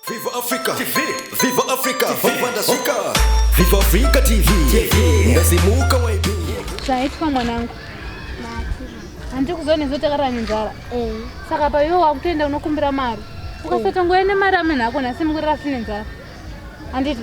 Viva Africa TV Viva Africa Viva Africa Viva Africa TV Ndasimuka YB Chaitwa mwanangu Hanti kuzone zote kara njara Eh Saka pa yo wakutenda unokumbira mari Ukasota ngoe ne mari amene hako nasi mkurira sine njara Handiti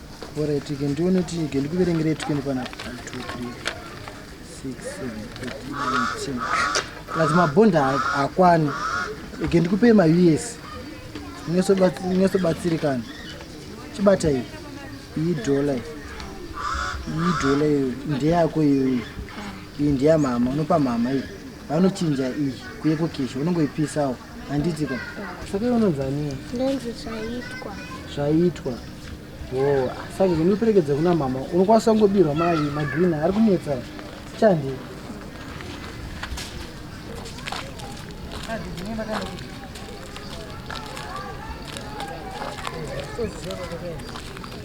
Oretike ndione tike ndikuverengere tikende pana 236 plus mabhondi akwani ike ndikupe maus nyosobatsirikana chibata iyi iyi dhola iyi iyi dhola iyo ndeyako iyoyi iyi ndeyamama unopa mama iyi vanochinja iyi kuye kukisha unongoipisawo handiti ka saka iwe unonzi aniya ndonzi zvaitwa zvaitwa o saka zvinoperekedza kuna mama unokwanisa kungobirwa mai magreen ari kunetsa chandi Thank you.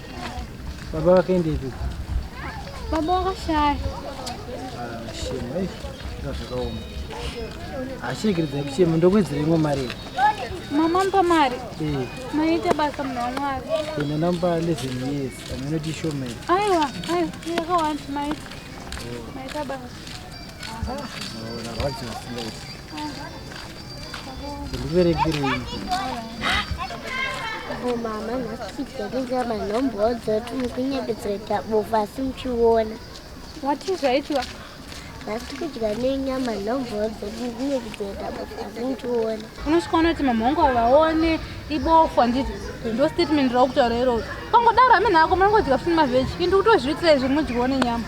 Baba vakaendepi? Baba vakashaya. Ah, shema. Eh, zvakaoma. Ashirekeredzai kuchema ndokuwedzera imwe mari. Mama mpa mari. Eh. Maita basa mna wamwari. Ina namba 11 years. Amene tisho mai. Aiwa, aiwa. Ndaka want mai. Maita basa. Ah, no, na wazi wasinga. Ah. mama nhasiiainga manhombodzo tumukunyepedzereta bofu asi muchiona wati zvaitwa nhasi tikudya nenyama nhombodzo tumukunyepedzereta bofu asi muchiona unosvika unoti mamhongo vaone ibofu handiti ndo statement raukutaura iroo pangodaro amene ako manongodya funi maveji indi kutozviitira izvi munodyiwo nenyama